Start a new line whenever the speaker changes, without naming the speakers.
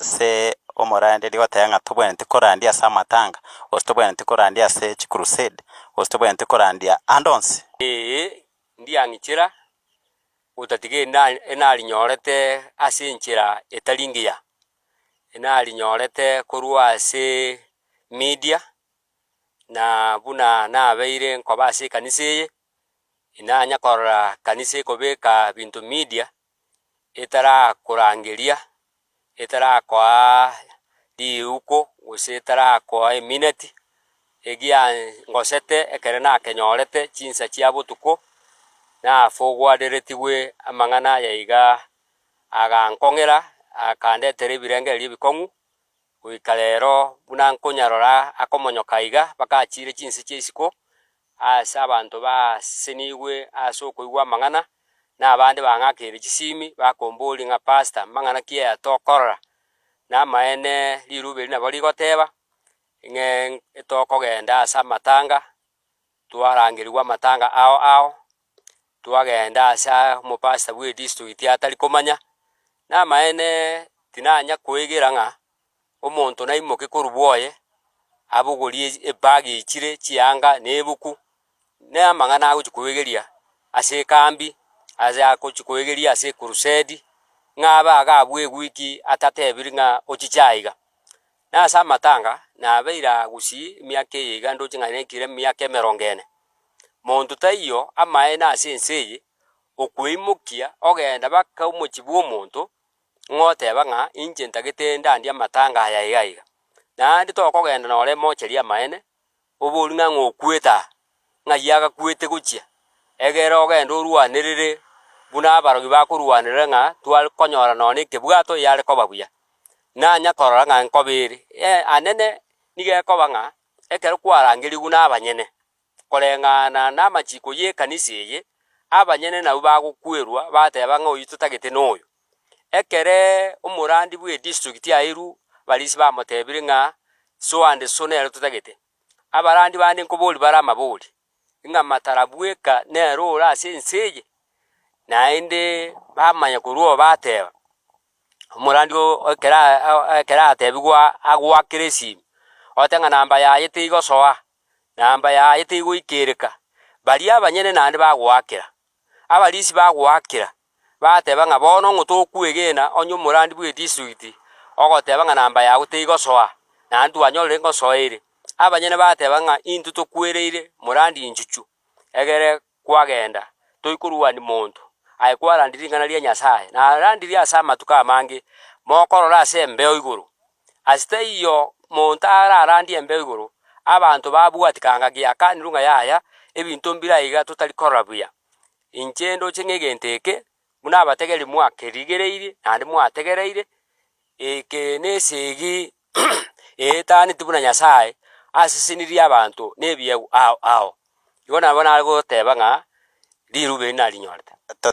Ase omoranderia goteba ng'a tobwenereti korandia ase amatanga, gose tobwenereti korandia ase chikurusedi, gose tobwenereti korandia ande onsi. Ee, ndiang'ichera, gotatiga erinde enarinyorete ase enchera etari engiya, enarinyorete korwa ase media, na buna nabeire nkoba ase ekanisa eye, inanyakorora kanisa ekobeka binto media, etarakorangeria, etarakoaa riuko, gose etarakoa emineti, egia ngosete ekero nakenyorete chinsa chia botuko, nafogwareretigwe amang'ana aya igaa, agankong'era akandetera ebirengererio ebikong'u. Goika rero, buna nkonyarora akomonyoka iga, bakachiire chinse chia isiko ase abanto baasenigwe ase okoigwa amang'ana, na abande bang'akeire chisiimi, bakombooria ng'a, Pastor, mang'ana ki aya tokorora? Namaene riruba eri nabo rigoteeba, ng'e tokogenda ase amatanga. Twarangerigwa amatanga ao ao, twagenda ase omopastor bw'edistrikiti atari komanya. Namaene tinanya koegera ng'a omonto naimoke korwa bwoye, abogorie ebag echire chianga na ebuku, na amang'ana agochi koegeria ase ekambi, ase agochi koegeria ase ekurusedi, ng'a abe agabue wiki atatebiri ng'a ochiche aiga. Nase amatanga nabeire aa gusii emiaka eye iga ndoche ng'a nekire emiaka emerongo ene. Monto taiyo amaene ase ense eye, okweimokia ogenda baka omochie bw'omonto ng'oteba ng'a inche ntagete ndandie amatanga aya iga iga. Naende tokogenda nore mocheria amaene, Oboru na ng'a okwete aa, ng'ai agakwete gochia? Egera ogende orwanerere buna abarogi bakorwanerera ng'a tware konyora nonya ekebwato eyare koba buya. Nanya korora ng'a nkobe ere. Ee, anene, nigo ekoba ng'a ekero kwarangerigwe buna abanyene koreng'ana namachiiko y'ekanisa eye, abanyene nabwo bagokwerwa bateba ng'a oyio totagete noyo. Ekere omorandi bw'edistrict yairwu Barisi bamotebire ng'a soa 'nde so nere totagete, abarandi bande nkoborie bare amabori, ng'a matara bweka nere ore ase ense eye? Naende bamanya korwa oo bateba, Omorandi oo ekero aa ekero atebigwa agoakere esimi, ote ng'a namba yaye teigosoa, namba yaye teigoikereka, baria abanyene naende bagoakera. Abarisi bagoakera bateba ng'a bono ng'o tokwegena onye omorandi bw'edistrikti ogoteba ng'a namba yago teigosoa, naende twanyorire ngosoa ere. Abanyene bateba ng'a intwe tokwereire morandi enchuchu, egere kwagenda, toikorwania monto, aye kwarandire ring'ana ria Nyasae, narandire ase amatuko amange, mokorora ase embeo igoro. Ase teiyo monto ararandie embeo igoro, abanto babwati kanga giakanirwe ng'a yaya, ebinto mbire aiga totari korora buya. Inche ndoche ng'egento eke, buna abategeria mwakerigereirie naende mwategereire, eke nesegi eetaneti buna Nyasae asesenirie abanto nebiegwa ao ao. Igo nabo nare goteba ng'a rirube eri narinyorete.